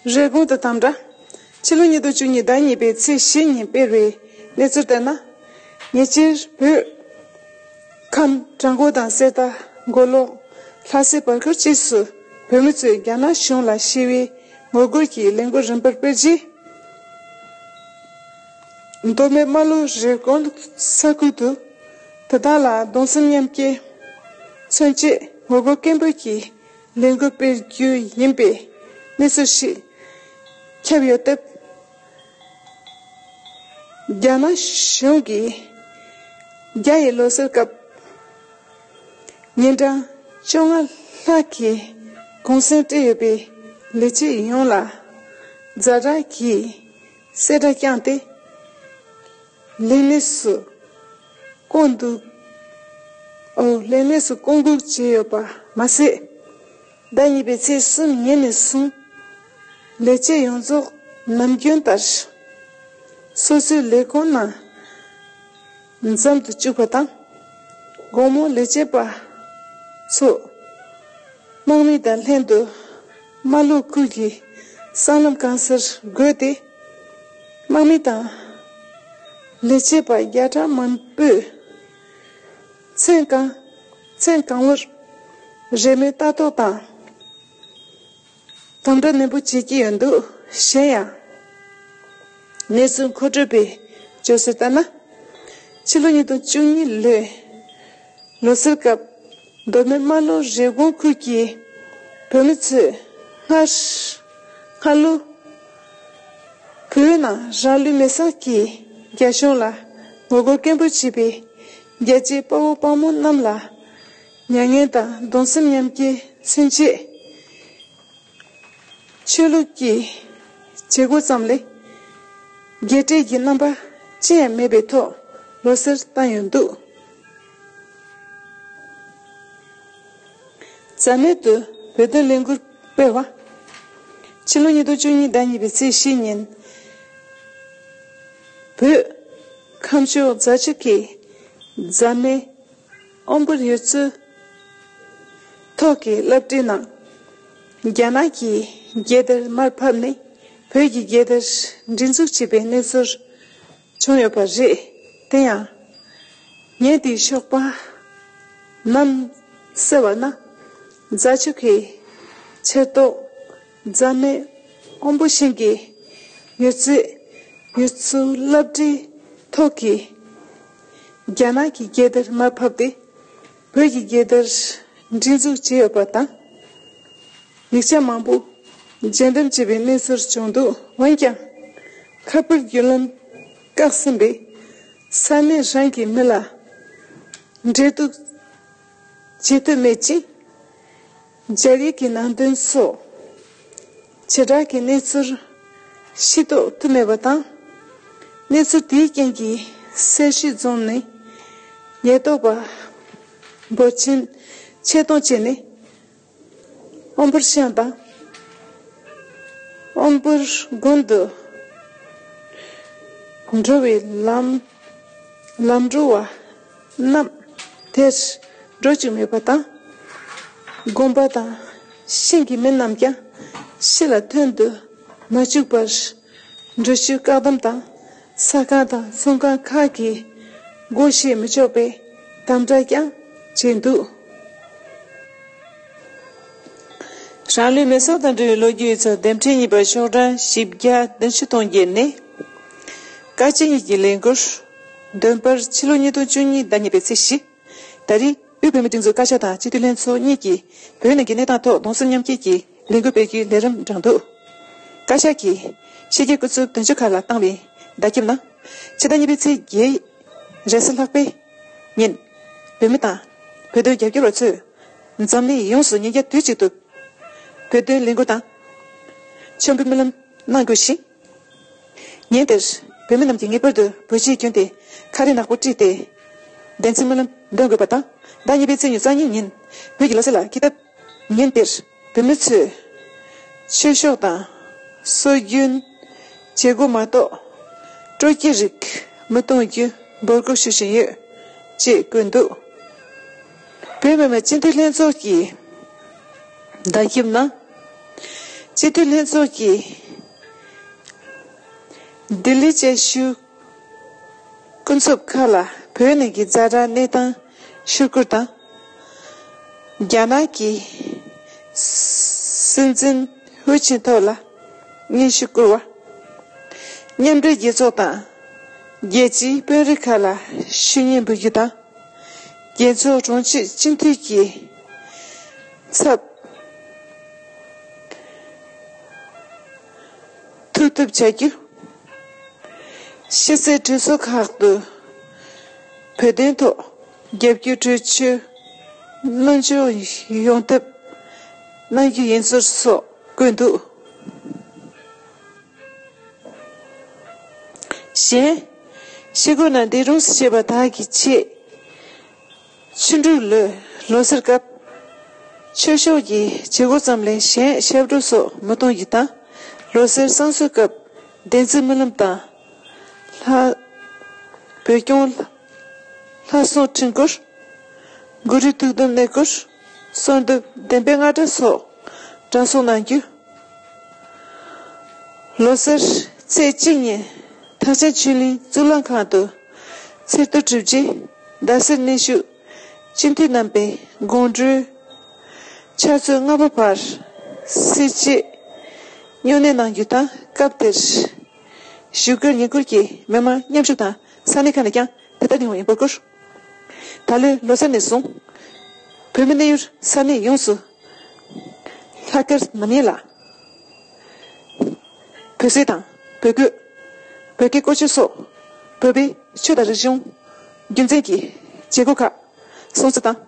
རེས་གོང་དུ་དང་འདྲ། ཕྱི་ལོ་ཉིས་སྟོང་བཅུ་གཉིས་ཟླ་གཉིས་པའི་ཚེས་བཞི་ཉིན་སྤེལ་བའི་གནས་ཚུལ་ལྟར་ན། ཉེ་ཆར་བོད་ཁམས་བྲག་མགོ་དང་གསེར་རྟ་མགོ་ལོག། ལྷ་སའི་བར་སྐོར་བཅས་སུ་བོད་མི་ཚོས་རྒྱ་ནག་གཞུང་ལ་ཞི་བའི་ངོ་རྒོལ་གྱི་ལས་འགུལ་རིམ་པར་སྤེལ་རྗེས། མདོ་སྨད་རྨ་ལྷོ་རི་ཀོན་ས་ཁུལ་དུ་དེ་དག་ལ་གདུང་སེམས་མཉམ་སྐྱེ་མཚོན་ཆེད་ངོ་རྒོལ་སྐད་འབོད་ཀྱི་ལས་འགུལ་སྤེལ་རྒྱུ་ཡིན་པའི་གནས་ཚུལ་ཞིག་ཁྱབ་ཡོད་སྟབས། རྒྱ་ནག་གཞུང་གིས་རྒྱ་ཡི་ལོ་སར་སྐབས་ཉིན་གྲངས་བཅོ་ལྔ་ལྷག་གི་གུང་སེང་སྤྲད་ཡོད་པའི་ལས་བྱེད་ཡོངས་ལ་རྫ་དྲག་གིས། བསེ་སྒྲ་བསྐྱངས་ཏེ། ལེགས་ལེགས་སུ་སྐོང་འདུག། ཨོ། ལེགས་ལེགས་སུ་སྐོང་འདུག་བྱས་ཡོད་པ་མ་ཟད། ཟླ་གཉིས་པའི་ཚེས་གསུམ་ཉིན་ནས་བཟུང། ལས་བྱེད་ཡོངས་རྫོགས་ནམ་རྒྱུན་ལྟར། སོ་སོའི་ལས་ཁུངས་ནང། མཚམས་དུ་བཅུག་པ་དང། དགོང་མོ་ལས་བྱེད་པ་ཚོས་དམག་མི་དང་ལྷན་དུ་རྨ་ལྷོ་ཁུལ་གྱི་སྲང་ལམ་རྐང་སར་བགོས་ཏེ། དམག་མི་དང་ལས་བྱེད་པ་བརྒྱ་ཕྲག་མང་པོས་མཚན་གང་མཚན་གང་བོར་རེས་མོས་ལྟ་རྟོག་དང། དང་པོའི་གནས་པོ་བྱེད་ཀྱི་ཡོད་འདུག་གཞན་ཡང། གནས་ཚུལ་མཁོ་སྤྲོད་པས་བརྗོད་སྲོལ་ལྟར་ན། ཕྱི་ལོ་ཉིས་སྟོང་བཅུ་གཉིས་ལོའི་ལོ་སར་སྐབས་མདོ་སྨད་རྨ་ལྷོ་རེབ་གོང་ཁུལ་གྱི་བོད་མི་ཚོས་སྔར་ལོ་བོད་ནང་རང་ལུས་མེར་བསྲེགས་ཀྱིས་རྒྱ་གཞུང་ལ་ངོ་རྒོལ་སྐད་འབོད་བྱས་པས་རྒྱལ་གཅེས་དཔའ་བོ་དཔའ་མོ་རྣམས་ལ། མྱ་ངན་དང་གདུང་སེམས་མཉམ་སྐྱེ་མཚོན་བྱེད། ཆོས་ལུགས་ཀྱི་བྱེད་སྒོ་ཙམ་ལས། རྒྱས་སྤྲས་ཀྱི་རྣམ་པ་ཅི་ཡང་མེད་པའི་ཐོག་ལོ་སེར་བཏང་ཡོད་འདུག། རྩ་མེད་དུ་བོད་དོན་ལས་འགུལ་སྤེལ་བ། ཕྱི་ལོ་ཉིས་སྟོང་བཅུ་གཉིས་ཟླ་གཉིས་པའི་ཚེས་བཞི་ཉིན། བོད་ཁམས་ཕྱོགས་རྫ་ཆུ་ཁའི་རྫ་སྨད། དབང་བསྐུར་ཡོད་ཚུལ་ཐོག་གི་བསླབ་བྲིས་གནང། རྒྱ་ནག་གི་རྒྱལ་དར་མར་ཕབ་ནས་བོད་ཀྱི་རྒྱལ་དར་སྒྲིག་འཛུགས་བྱས་པའི་གནས་ཚུལ་བྱུང་ཡོད་པ་རེད། དེ་ཡང། ངས་དེའི་ཤོག་པ་ནང་གསལ་བ་ན། རྫ་ཆུ་ཁའི་ཕྱིར་རྟོག་རྫ་སྨད་དབོན་པོ་ཞིང་གི་མྱུར་བརྩིས་ཡུལ་ཚོའི་བླ་བྲེའི་ཐོག་གི་རྒྱ་ནག་གི་རྒྱལ་དར་མར་ཕབ་སྟེ་བོད་ཀྱི་རྒྱལ་དར་སྒྲིག་འཛུགས་བྱས་ཡོད་པ་དང། ཡིག་ཆ་མང་པོ་འཇལ་འདེམས་བྱས་པའི་གནས་ཚུལ་བྱུང་འདུག་འོན་ཀྱང། ཁ་དཔེར་བརྒྱུད་ལམ་བཀག་ཟིན་པས་ས་གནས་རང་གི་མི་ལ་འབྲེལ་གཏུག་བྱེད་ཐུབ་མེད་ཅིང། སྦྱར་ཡིག་གི་ནང་དོན་སོགས་བྱེ་བྲག་གི་གནས་ཚུལ་ཤེས་རྟོགས་ཐུབ་མེད་པ་དང། གནས་ཚུལ་དེའི་རྐྱེན་གྱིས་སེར་ཤུལ་རྫོང་ནི་ཉེན་རྟོག་པ་འབོར་ཆེན་ཆེད་གཏོང་བྱས་ནས་ཨོམ་བུར་ཤང་དང་ཨོམ་བུར་དགོན་དུ་འགྲོ་བའི་ལམ་འགྲོ་བ། རྣམས། དེར་སྒྲོ་གཅིག་མེད་པ་དང། བསྒོམ་པ་དང། ཤིང་གི་མི་རྣམས་ཀྱང། ཕྱི་ལ་ཐོན་དུ་མ་བཅུག་པར། འབྲུ་ཆུའི་བཀག་སྡོམ་དང། ས་ཁང་དང་ཚོང་ཁང་ཁག་གི། སྒོ་གཞས་མི་ཆོག་པའི། དམ་བསྒྲགས་ཀྱང་བྱས་འདུག། རང་ལུས་མེ་སྲོག་དང་འབྲེལ་བའི་ལོ་རྒྱུས་ཡོད་ཚད་འདེམས་ཁྲལ་གཉིས་པ་ཤོག་གྲངས་བཞི་བརྒྱ་དོན་བཞི་སྟོང་བརྒྱད་ནས། བཀའ་སྤྱི་གཉིས་ཀྱི་ལས་འགུལ། འདོན་པར་ཕྱི་ལོ་ཉིས་སྟོང་བཅུ་གཉིས་ཟླ་གཉིས་པའི་ཚེས་བཞི། ད་རིང་དབུས་བོད་མིའི་སྒྲིག་འཛུགས་བཀའ་ཤག་དང་སྤྱི་འཐུས་ལྷན་ཚོགས་གཉིས་ཀྱིས་བོད་ནང་གི་གནས་སྟངས་ཐོག་གདོང་སེམས་མཉམ་སྐྱེད་ཀྱི་ལས་འགུལ་སྤེལ་རྒྱུའི་ལས་རིམ་བསྒྲགས་འདུག་བཀའ་ཤག་གིས་ཕྱི་རྒྱལ་སྐུ་ཚབ་དོན་གཅོད་ཁག་ལ་བཏང་བའི་བརྡ་ཁྱབ་ནང། ཕྱི་ཟླ་གཉིས་པའི་ཚེས་བརྒྱད། རེས་གཟའ་ལྷག་པའི་ཉིན། བོད་མི་དང། བོད་དོན་རྒྱབ་སྐྱོར་བ་ཚོས་འཛམ་གླིང་ཡོངས་སུ་ཉིན་བརྒྱ་དུས་གཅིག་ཏུ་བོད་དོན་ལས་འགུལ་དང། མཆོད་འབུལ་སྨོན་ལམ་གནང་དགོས་ཤིང། ཉིན་དེར། བོད་མི་རྣམས་ཀྱིས་ངེས་པར་དུ་བོད་ཕྱིའི་རྒྱུན་དེ་ཁ་རས་ནག་པོ་དཀྲིས་ཏེ། བདེན་ཚིག་སྨོན་ལམ་འདོན་དགོས་པ་དང། ཟླ་གཉིས་པའི་ཚེས་ཉེར་གསང་གཉིས་ཉིན་བོད་ཀྱི་ལོ་ཚད་ལ་འཁེལ་སྟབས། ཉིན་དེར་བོད་མི་ཚོས། ཆོས་ཕྱོགས་དང། སྲོལ་རྒྱུན། བྱེད་སྒོ་མ་གཏོགས། སྤྲོ་སྐྱིད་རིགས་མི་གཏོང་རྒྱུ་འབོད་སྐུལ་ཞུ་བཞིན་ཡོད། ཅེས་བཀོད་འདུག་བོད་མི་མང་སྤྱི་འཐུས་ལྷན་ཚོགས་ཀྱི་བརྡ་ཁྱབ་ནང། སྤྱི་འཐུས་ལྷན་ཚོགས་ཀྱི་ལྡི་ལི་དཔྱད་ཞིབ་ཀུན་རྫོབ་ཁག་ལ་བོད་ནང་གི་རྩ་བྲག་གནས་སྟངས་ཕྱིར་སྐུར་དང། རྒྱ་ནག་གི་སྲིད་འཛིན་ཧུའུ་ཅིན་ཐོ་ལ་སྙན་ཞུ་སྐུར་བ། མཉམ་འབྲེལ་རྒྱལ་ཚོགས་དང་རྒྱལ་སྤྱིའི་དཔོན་རིགས་ཁག་ལ་ཞུ་སྙན་འབུལ་རྒྱུ་དང། རྒྱལ་ཚོགས་དྲུང་ཆེ་སྤྱི་འཐུས་ཀྱི། ཚབ། ཐུགས་ཐུབ་བྱ་རྒྱུ། ཤེས་ཚད་གྲོས་ཚོགས་ཁག་ཏུ་བོད་དོན་ཐོག་རྒྱབ་སྐྱོར་གྲོས་ཆོད་སྣོལ་འཇོག་ཡོང་ཐབས་གནང་རྒྱུ་ཡིན་ཚུལ་སོགས་བཀོད་འདུག་གཞན། ཤེས་སྒོ་ན་འདི་རུང་ཞེས་པ་དག་གི་ཆེད། ཕྱི་འབྲུག་ལོའི་ལོ་སར་སྐབས། ཆོས་ཕྱོགས་ཀྱི་བྱེད་སྒོ་ཙམ་ལས་གཞན་ཞབས་བྲོ་སོགས་མི་གཏོང་རྒྱུ་དང། ལོ་སར་བསང་གསོལ་སྐབས་བདེན་རྩིས་སྨོན་ལམ་དང། ལྷ། བོད་སྐྱོང། ལྷ་སྲུང་ཁྲི་འགོར། གུ་རུའི་ཐུགས་དམ་གནས་སྐོར། གསོལ་འདེབས་བདེན་པའི་རྔ་སྒྲ་སོགས་གྲྭ་སོགས་གནང་རྒྱུ། ལོ་སར་ཚེས་གཅིག་ཉིན་ཐང་ཆེན་ཆོས་གླིང་གཙུག་ལག་ཁང་དུ། ཚེ་བསྟོད་གྲུབ་རྗེས་ཟླ་ཟེར་གནས་བཞུགས། སྤྱི་མཐུས་རྣམ་པའི་དགོངས་འགྲོའི། ཕྱག་མཛོད་ལྔ་པ་བར་སྲིད་བཅས། སྨྱུང་གནས་གནང་རྒྱུ་དང་སྐབས་དེར། བཞུགས་སྒར་ཉེ་འཁོར་གྱི་མི་མང་མཉམ་ཞུགས་དང་ས་གནས་ཁག་ནས་ཀྱང་དེ་ལྟར་ཡོང་བའི་འབོད་སྐུལ། ད་ལོའི་ལོ་སར་ནས་བཟུང། བོད་མི་གནས་ཡུལ་ས་གནས་ཡོངས་སུ། ལྷག་དཀར་ནམ་ཡན་ལག། བོད་ཟས་དང། བོད་གོས། བོད་སྐད་བཀོལ་སྤྱོད་སོགས་བོད་པའི་ཆོས་དང་རིག་གཞུང། རྒྱུ་མཚན་གྱི་བྱེད་སྒོ་ཁག་སྲུང་བརྩི་དང།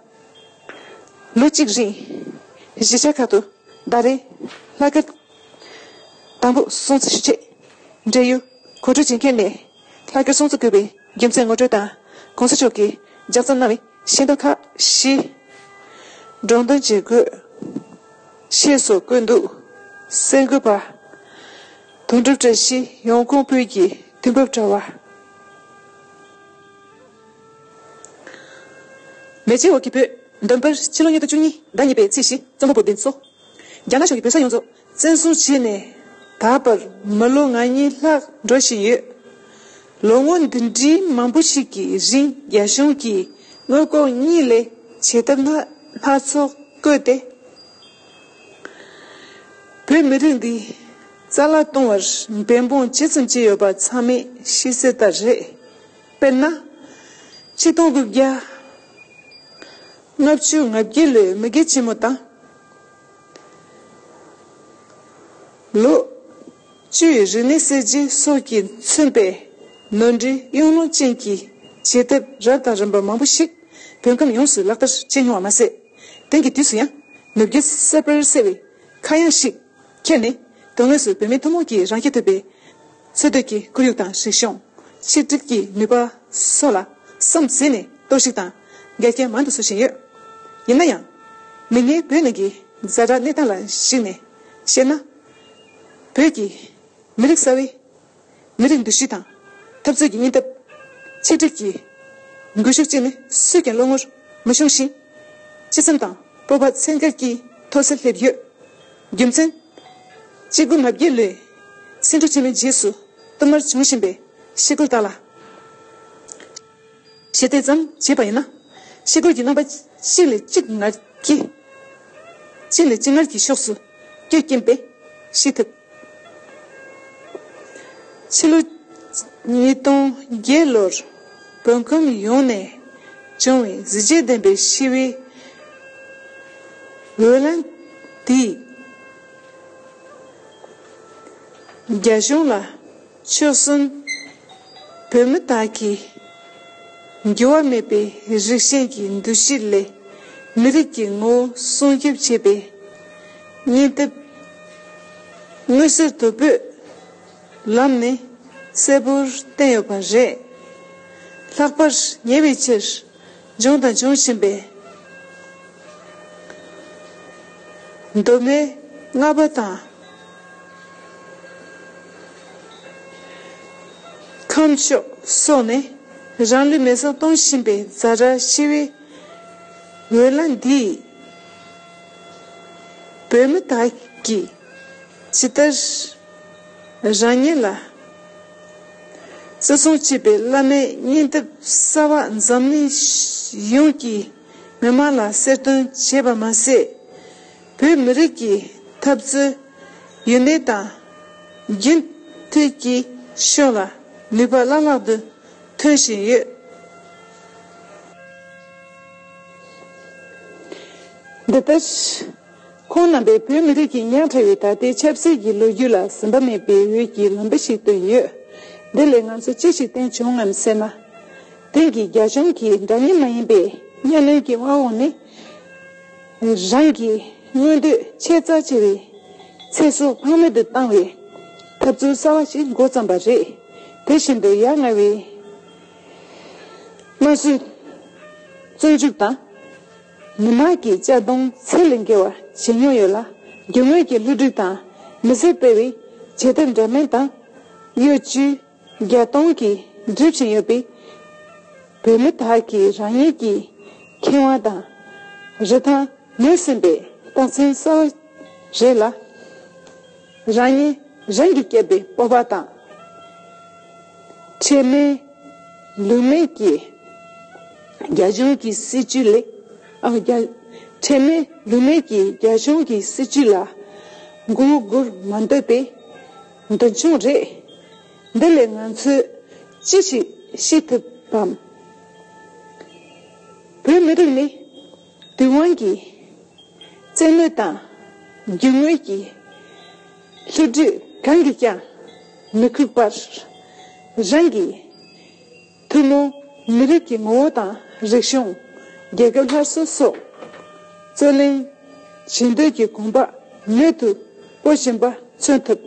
ལོ་གཅིག་རིང་གཞིས་ཆགས་ཁག་ཏུ་ཟླ་རེའི་ལྷ་སྐལ་དང་པོ་སྲུང་བརྩི་ཞུ་ཆེད། འབྲེལ་ཡོད་གོ་སྒྲིག་བྱེད་མཁན་ནས་ལྷ་སྐལ་སྲུང་བརྩི་དགོས་པའི་རྒྱུ་མཚན་ངོ་སྤྲོད་དང་གོང་ས་མཆོག་གིས་ལྗགས་རྩོམ་གནང་བའི། ཤིང་རྟ་ཁ་ཤི། འབྲོང་དང་རྗེ་རྒོད། ཞེས་སོགས་བཀོད་འདུག་གསལ་འགོད་པ། དོན་གྲུབ་བཀྲ་ཤིས་ཡོངས་གོང་སྤོས་ཀྱི་དུས་བབ་དྲ་བ། མེ་ལྕེའི་འོག་གི་བོད། འདོན་པར་ཕྱི་ལོ་ཉིས་སྟོང་བཅུ་གཉིས་ཟླ་གཉིས་པའི་ཚེས་བཞི་རྩོམ་པ་པོ་བདེན་འཚོ། རྒྱ་ནག་ཕྱོགས་ཀྱི་བོད་ས་ཡོངས་རྫོགས་བཙན་བཟུང་བྱས་ནས་ད་བར་མི་ལོ་ང་གཉིས་ལྷག་འགྲོ་བཞིན་ཡོད། ལོ་ངོ་འདི་འདྲའི་མང་པོ་ཞིག་གི་རིང་རྒྱ་གཞུང་གིས་དངུལ་ལྐོག་གཉིད་ལས་བྱེད་ཐབས་སྣ་སྣ་ཚོགས་བཀོལ་ཏེ། བོད་མི་རིགས་འདི་རྩ་ལ་གཏོང་བར་འབད་འབུངས་ཇི་ཙམ་བྱས་ཡོད་པ་ཚང་མས་ཤེས་གསལ་ལྟར་རེད། དཔེར་ན། ཆིག་སྟོང་དགུ་བརྒྱ་ལྔ་བཅུ་ང་བརྒྱད་ལོའི་མི་རྒན་ཆེན་མོ་དང། ལོ། བཅུའི་རི་ནི་གསེར་གྱི་སོ་གྱིས་མཚོན་པའི་ནོར་འདྲའི་གཡུང་ལོ་ཅན་གྱི་བྱེད་ཐབས་རབ་དང་རིམ་པ་མང་པོ་ཞིག་བོད་ཁམས་ཡོངས་སུ་ལག་བསྟར་བྱས་མྱོང་བ་མ་ཟད། དེང་གི་དུས་སུ་ཡང་ནུབ་རྒྱུད་གསར་པར་གསལ་བའི་ཁ་གཡང་ཞིག་ཁྱེར་ནས་དོན་དངོས་སུ་བོད་མི་ཐུན་མོང་གིས་རང་སྐྱེ་ཐུབ་པའི་འཚོལ་སྡུད་ཀྱི་ཁོར་ཡུག་དང་རིག་གཞུང། ཆིག་སྒྲིལ་གྱི་ནུས་པ་སོགས་ལ་བསམ་གཟས་ནས་གཏོར་བཤིག་དང་འགལ་རྐྱེན་མང་དུ་བཟོ་བཞིན་ཡོད། ཡིན་ན་ཡང། མིག་སྔའི་བོད་ནང་གི་གཟའ་སྒྲ་གནས་སྟངས་ལ་གཞིགས་ནས་བཤད་ན། བོད་ཀྱི་མི་རིགས་གསར་བའི་མི་རིགས་འདུ་ཤེས་དང་འཐབ་རྩོད་ཀྱི་སྙིང་སྟོབས། ཆིག་སྒྲིལ་གྱི་སྒུལ་ཤུགས་བཅས་ནི་སུས་ཀྱང་བློ་ངོར་མི་ཤོང་ཞིང། སྤྱི་བསམ་དང་སྤོབས་པ་ཚད་འགལ་གྱིས་མཐོ་སར་སླེབས་ཡོད། རྒྱུ་མཚན། སྐྱེ་རྒུ་མ་བརྒྱད་ལས། སེང་ཕྲུག་ཆེན་མོའི་རྗེས་སུ་གཏུམ་མར་བྱུང་བཞིན་པའི་ཤེལ་སྒོར་བཏགས་ལ། ཞེས་དེ་ཙམ་བྱས་པ་ཡིན་ན། ཤེལ་སྒོར་གྱི་རྣམ་པ་གཅིག་ལས་གཅིག་ངར་གྱི། གཅིག་ལས་གཅིག་ངར་གྱི་ཕྱོགས་སུ་སྐྱོད་ཀྱིན་པས་ཤེས་ཐུབ། ཕྱི་ལོ་ཉིས་སྟོང་བརྒྱད་ལོར་བོད་ཁམས་ཡོངས་ནས་བྱུང་བའི་གཟི་བརྗིད་ལྡན་པའི་ཞི་བའི་འོས་ལངས་དེས། རྒྱ་གཞུང་ལ་ཆོལ་གསུམ་བོད་མི་དག་གིས་འགྱུར་བ་མེད་པའི་རིགས་ཞེན་གྱི་འདུ་ཤེས་ལས་མི་རིགས་ཀྱི་ངོ་བོ་སྲུང་སྐྱོབ་བྱེད་པའི་སྙིང་སྟོབས་མངོན་གསལ་དོད་པོས། ལམ་ནི་གསལ་པོར་བསྟན་ཡོད་པ་རེད། ལྷག་པར་ཉེ་བའི་ཕྱིར་འབྱུང་དང་འབྱུང་བཞིན་པའི་གདོད་མའི་ལྔ་པ་དང། ཁམས་ཕྱོགས་སོགས་ནི་རང་ལུས་མེ་སྲེག་གཏོང་བཞིན་པའི་རྫ་ར་ཤི་བའི་འོད་རླ་འདིས། བོད་མི་དག་གིས་ཇི་ལྟར་རང་ཉིད་ལ་བརྩི་སྲུང་བྱེད་པའི་བླ་མའི་སྙིང་སྟོབས་གསར་བ་འཛམ་གླིང་ཡོངས་ཀྱི་མི་དམངས་ལ་གསལ་སྟོན་བྱས་པ་མ་ཟད། བོད་མི་རིགས་ཀྱི་འཐབ་རྩོད་ཡུན་གནས་དང་རྒྱུན་མཐུད་ཀྱི་ཕྱོགས་ལ་ནུས་པ་བླ་ལྷག་ཏུ་ཐོན་བཞིན་ཡོད། འདི་ལྟར། ཁོང་རྣམ་པས་བོད་མི་རིགས་ཀྱི་ཉག་ཕྲ་བའི་ད་ལྟའི་ཆབ་སྲིད་ཀྱི་ལོ་རྒྱུས་ལ་ཟིན་པ་མེད་པའི་འོད་ཀྱི་ལམ་བུ་ཞིག་བཏོན་ཡོད། འདི་ལས་ང་ཚོ་ཅི་ཞིག་བསྟན་བྱུང་ངམ་ཟེར་ན། དེང་གི་རྒྱ་གཞུང་གིས་འདྲ་མཉམ་མ་ཡིན་པའི་གཉའ་གནོན་གྱི་དབང་འོག་ནས། རང་གི་མངོན་འདོད་ཆེས་རྩ་ཆེ་བའི་ཚེ་སྲོག་ཕངས་མེད་དུ་བཏང་བའི་ཐབས་ཚུལ་གསར་བ་ཞིག་མགོ་བརྩམས་པ་རེད། དེ་བཞིན་དུ་ཡ་ང་བའི་དམར་གསོད། བཙོན་འཇུག་དང། མི་དམངས་ཀྱི་གཅར་རྡུང་ཚད་ལས་འགལ་བར་བྱེད་མྱོང་ཡོད་ལ། རྒྱུ་དངོས་ཀྱི་བསླུ་བྲིད་དང་མི་སེར་སྤེལ་བའི་བྱེད་ཐབས་འདྲ་མིན་དང། གཡོ་བྱུས་བརྒྱ་སྟོང་གིས་སྒྲིབ་བཞིན་ཡོད་པས། བོད་མི་དག་གིས་རང་ཉིད་ཀྱི་ཁེ་དབང་དང། རིན་ཐང་ངོས་ཟིན་པའི་རྟགས་མཚན་གསལ་བོ་རེད་ལ། རང་ཉིད་རང་གིས་བསྐྱེད་པའི་སྤོབས་པ་དང། ཁྲེལ་མེད། ལུས་མེད་ཀྱིས། རྒྱ་གཞུང་གི་སྲིད་བྱུས་ལས། ཁྲེལ་མེད་ལུས་མེད་ཀྱིས་རྒྱ་གཞུང་གི་སྲིད་བྱུས་ལ། མགོ་སྒུར་མ་འདོད་པའི་འདུན་ཆུང་རེད། འདི་ལས་ང་ཚོས་ཅི་ཞིག་ཤེས་ཐུབ་བམ། བོད་མི་རིགས་ནི། བདུད་དབང་གིས། བཙན་གནོད་དང། རྒྱུ་དངོས་ཀྱིས། ལྷོ་བདུད་གང་གིས་ཀྱང། མི་ཁུགས་པར། རང་གི། ཐུན་མོང། མི་རིགས་ཀྱི་ངོ་བོ་དང་རིག་གཞུང། རྒྱལ་ཁབ་སླར་གསོ་སོགས། རྩོད་གླེང། བྱེད་འདོད་ཀྱི་གོམ་པ། མེད་དུ། སྤོ་བཞིན་པ་མཚོན་ཐུབ།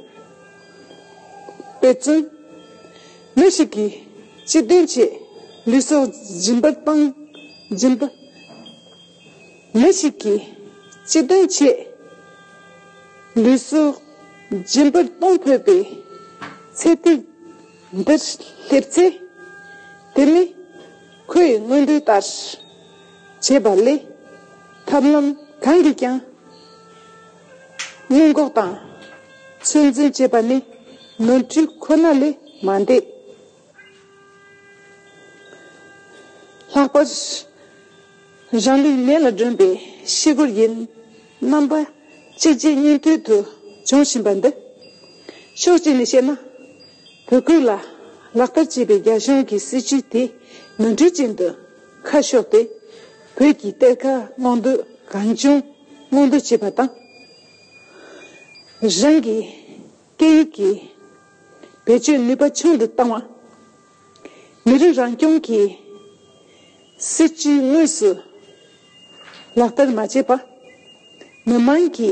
དཔེ་མཚོན། མི་ཞིག་གིས་སྤྱི་དོན་ཆེད་ལུས་སྲོག་སྦྱིན་པར་སྤང། སྦྱིན་པ། མི་ཞིག་གིས་སྤྱི་དོན་ཆེད་ལུས་སྲོག་སྦྱིན་པར་གཏོང་ཕོད་པའི་ཚད་ཐིག་འདིར་སླེབས་ཚེ། དེ་ནི་ཁོས་དངོས་འབྲེལ་ལྟར་བྱས་པ་ལས་ཐབས་ལམ་གང་གིས་ཀྱང། སྔོན་འགོག་དང་ཚོད་འཛིན་བྱེད་པ་ནི་ནོར་འཁྲུལ་ཁོ་ན་ལས་མ་འདས། ལྷག་པར་རང་ལུས་མེ་ལ་སྒྲོན་པའི་ཤི་སྒོར་ཡིན། རྣམ་པ་གཅིག་རྗེས་གཉིས་མཐུད་དུ་འབྱུང་བཞིན་པ་འདི། ཕྱོགས་གཅིག་ནས་བཤད་ན་བོད་ཁུལ་ལ་ལག་བསྟར་བྱས་པའི་རྒྱ་གཞུང་གི་སྲིད་བྱུས་དེ་ནོར་འཁྲུལ་ཅན་དུ་ཁ་ཕྱོགས་ཏེ། བོད་ཀྱི་གཏེར་ཁ་སྔོག་འདོན་གང་བྱུང་སྔོག་འདོན་བྱེད་པ་དང། རང་གི་སྐད་ཡིག་གི་བེད་སྤྱོད་ནུས་པ་ཆུང་དུ་བཏང་བ། མི་རིགས་རང་སྐྱོང་གི་སྲིད་ཇུས་དངོས་སུ་ལག་བསྟར་མ་བྱས་པ། མི་དམངས་ཀྱི་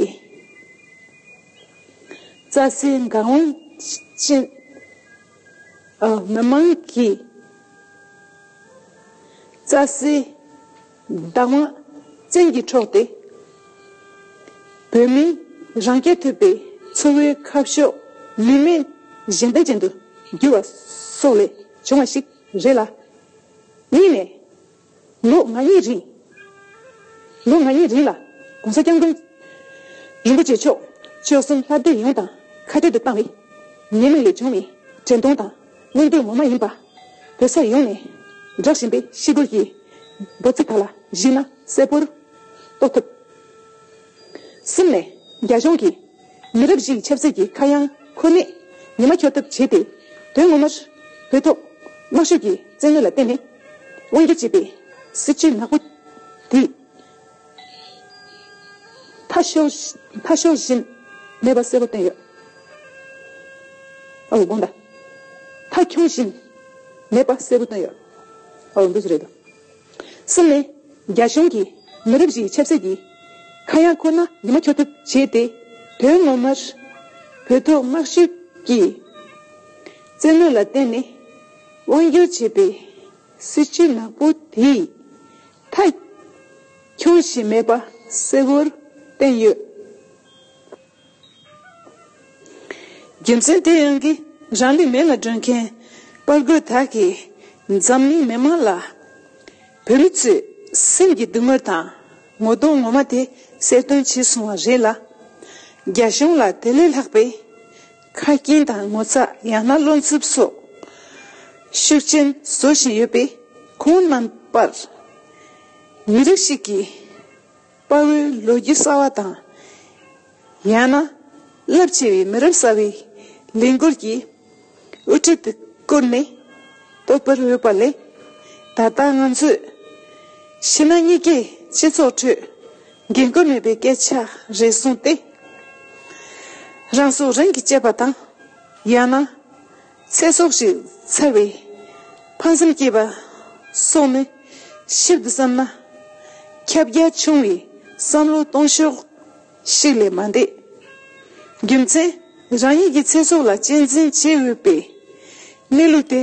རྩྭ་སའི་འགག་སྒོ་ཅན། མི་མང་གིས་རྩྭ་སའི་བདག་དབང་བཙན་གྱིས་འཕྲོག་སྟེ། བོད་མིའི་རང་སྐྱ་ཐུབ་པའི་འཚོ་བའི་ཁ་ཕྱོགས་ལུས་མེད་བཞིན་བདེ་ཅན་དུ་བསྒྱུར་བ་སོགས་ལས་བྱུང་བ་ཞིག་རེད་ལ། གཉིས་ནས། ལོ་ལྔ་ཡི་རིང། ལོ་ལྔ་ཡི་རིང་ལ ྋགོང་ས ྋསྐྱབས་མགོན་རིན་པོ་ཆེ་མཆོག་སྤྱོད་གསུམ་ལྷ་སྡེ་ཡོངས་དང་ཁ་བྲལ་དུ་བཏང་བས། ཉེས་མེད་ལས་བྱུང་བའི་དྲན་གདུང་དང་གླེང་དོན་ངོ་མ་ཡིན་པ། བོད་ས་ཡོངས་ནས་བསྒྲགས་བཞིན་པའི་ཤི་གུར་གྱི་འབོད་ཚིག་དག་ལ་གཞིགས་ན་གསལ་པོར་རྟོགས་ཐུབ། གསུམ་ནས་རྒྱ་གཞུང་གིས། མི་རབས་བཞིའི་ཆབ་སྲིད་ཀྱི་ཁ་གཡང་འཁོར་ནས་ཉི་མ་འཁྱོལ་ཐབས་བྱས་ཏེ། དོན་ངོ་མར། བོད་ཐོག་དམག་ཤུགས་ཀྱི་བཙན་གཡོལ་ལ་བརྟེན་ནས་དབང་བསྒྱུར་བྱས་པའི་སྲིད་བྱུས་ནག་པོ་དེ། མཐའ་ཤོར་བཞིན་མེད་པ་གསལ་པོ་བསྟན་ཡོད། ཨོ་དགོངས་དག། མཐའ་འཁྱོངས་བཞིན་མེད་པ་གསལ་པོ་བཏོན་ཡོད། ཨོ་འདི་ཅི་རེད། སི་ལེ། རྒྱ་གཞུང་གིས་མི་རབས་བཞིའི་ཆབ་སྲིད་ཀྱི་ཁ་གཡང་ཁོ་ན་ཉི་མ་འཁྱོལ་ཐབས་བྱས་ཏེ། དོན་ངོ་མར་བོད་ཐོག་དམག་ཤུགས་ཀྱི་བཙན་གནོན་ལ་བརྟེན་ནས་དབང་སྒྱུར་བྱས་པའི་སྲིད་བྱུས་ནག་པོ་དེས་མཐའ་འཁྱོངས་བྱས་མེད་པ་གསལ་བོར་བསྟན་ཡོད། རྒྱུ་མཚན་དེ་ཡིན་གྱི་རང་ལུས་མེ་ལ་སྒྲོན་མཁན་དཔའ་རྒོད་དག་གིས་འཛམ་གླིང་མི་མང་ལ། བོད་མི་ཚོས་སེམས་ཀྱི་སྡུག་སྔོན་དང་ངོ་གདོང་ངོ་མ་དེ་གསལ་སྟོན་བྱས་སོང་བ་རེད་ལ། རྒྱ་གཞུང་ལ་དེ་ལས་ལྷག་པའི་ཁ་སྐྱེངས་དང་ངོ་ཚ་ཡང་ན་བློ་འཚུབ་སོགས་ཤུགས་ཆེན་བཟོ་བཞིན་ཡོད་པས་ཁོང་རྣམ་པར་མི་རིགས་ཤིག་གི་དཔའ་བོའི་ལོ་རྒྱུས་གསར་བ་དང། ཡང་ན་རླབས་ཆེ་བའི་མི་རབས་གསར་བའི་ལས་འགུལ་གྱི་དབུ་ཁྲིད་དུ་བཀུར་ནས་རྟོགས་པར་འོས་པ་ལས། ད་ལྟ་ང་ཚོས་ཕྱི་ནང་གཉིས་ཀའི་སྤྱི་ཚོགས་ཁྲོད་འགན་ཁུར་མེད་པའི་སྐད་ཆ་རེ་གསུངས་ཏེ། རང་སྲོག་རང་གིས་བཅད་པ་དང། ཡང་ན། ཚེ་སྲོག་ཅིག་འཚལ་བའི་ཕངས་སེམས་སྐྱེས་པ་སོགས་ནི་ཞིབ་ཏུ་བསམ་ན་ཁྱབ་རྒྱ་ཆུང་བའི་བསམ་བློ་གཏོང་ཕྱོགས་ཤིག་ལས་མ་འདས། རྒྱུ་མཚན་རང་ཉིད་ཀྱི་ཚེ་སྲོག་ལ་གཅེས་འཛིན་བྱེད་འོས་པའི་གནས་ལུགས་དེ་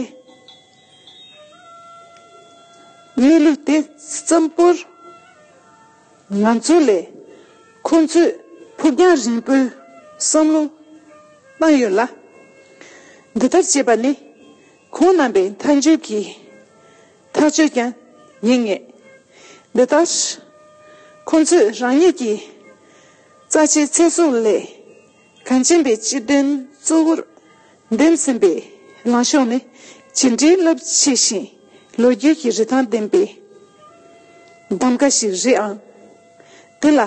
གནས་ལུགས་དེ་བརྩམས་པོར། ང་ཚོ་ལས་ཁོང་ཚོས་ཕུགས་རྒྱང་རིང་པོའི་བསམ་བློ་བཏང་ཡོད་ལ། འདི་ལྟར་བྱས་པ་ནི་ཁོང་རྣམ་པའི་མཐའ་མཇུག་གི་ཐག་གཅོད་ཀྱང་ཡིན་ངེས། འདི་ལྟར་ཁོང་ཚོས་རང་ཉིད་ཀྱི་རྩ་ཆེའི་ཚེ་སྲོག་ལས། གངས་ཅན་པའི་སྤྱི་དོན་གཙོ་བོར་འདེམས་ཟིན་པའི་ལངས་ཕྱོགས་ནི་ཇི་འདྲའི་རླབས་ཆེ་ཞིང་ལོ་རྒྱུས་ཀྱི་རི་ཐང་ལྡན་པའི་གདམ་ག་ཞིག་རེད་ཨང། དེ་ལ་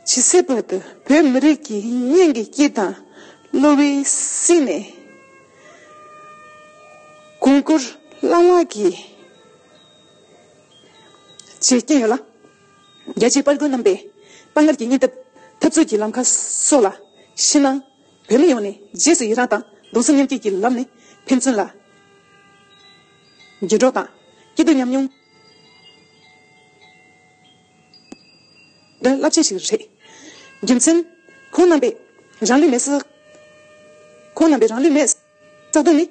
ཇི་སྲིད་བར་དུ་བོད་མི་རིགས་ཀྱི་སྙིང་གི་དཀྱིལ་དང་གློ་བའི་གསེང་ནས་གོང་བཀུར་བླ་ལྷག་གིས་བྱེད་ཀྱིན་ཡོད་ལ། རྒྱལ་གཅེས་དཔའ་རྒོད་རྣམ་པས་དཔའ་ངར་གྱི་སྙིང་སྟོབས། འཐབ་རྩོད་ཀྱི་ལམ་ཁ་སོགས་ལ་ཤི་སྣང། བོད་མི་ཡོངས་ནས་རྗེས་སུ་ཡི་རངས་དང་གདུང་སེམས་མཉམ་སྐྱེད་ཀྱི་ལམ་ནས་ཕན་ཚུན་ལ་དགྱེས་སྒྲོག་དང་སྐྱིད་སྡུག་མཉམ་མྱོང། དོན་རླབས་ཆེན་ཞིག་རེད། རྒྱུ་མཚན། ཁོང་རྣམ་པས་རང་ལུས་མེད། ཁོང་རྣམ་པས་རང་ལུས་མེད། རྩ་དོན་ནི།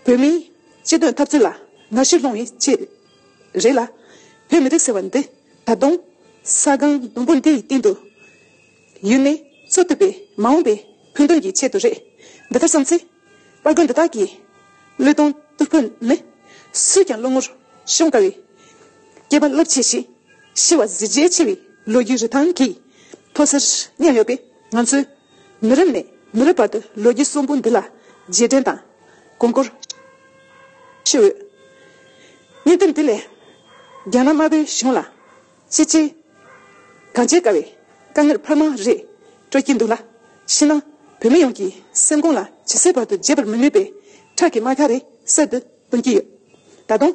བོད་མིའི་སྤྱི་དོན་འཐབ་རྩོད་ལ་ང་ཕྱིར་ལོག་ནི་ཅི་རེད་ལ། བོད་མི་རིགས་ཟེར་བ་འདི་ད་དུང་ས་སྒང་ཟླུམ་པོ་འདི་ཡི་སྟེང་དུ་ཡུན་ནས་འཚོ་ཐུབ་པའི་མ་འོངས་པའི་ཕུགས་འདུན་གྱི་ཆེད་དུ་རེད། འདི་ལྟར་བསམ་ཚེ། དཔའ་རྒོད་འདི་དག་གི་བློས་གཏོང་སྟུར་ཕོད་ནི། སུས་ཀྱང་བློ་ངོར་ཤོང་དཀའ་བའི་སྐྱེས་པ་བློ་ཆེ་ཞིང་ཤི་བ་གཟི་བརྗེད་ཆེ་བའི་ལོ་རྒྱུས་རི་ཐང་གི་མཐོ་སར་མཉམ་ཡོད་པས། ང་ཚོས་མི་རབས་ནས་མི་རབས་བར་དུ་ལོ་རྒྱུས་གསོན་པོ་འདི་ལ་རྗེས་དྲན་དང་གོང་བཀུར་ཞུ་འོས། སྙན་དེབ་འདི་ལས་རྒྱ་ནག་དམར་པོའི་གཞུང་ལ་ཤེས་བྱའི་གང་བྱེད་དཀའ་བའི་དཀའ་ངལ་འཕར་མང་རེ་སྤྲོད་ཀྱིན་འདུག་ལ། ཕྱི་ནང་བོད་མི་ཡོངས་ཀྱི་སེམས་ཁོང་ལ་ཇི་སྲིད་བར་དུ་བརྗེད་པར་མི་ནུས་པའི་ཁྲག་གི་རྨ་ཁ་རེ་གསེར་དུ་སྟོན་གྱིན་ཡོད། ད་དུང་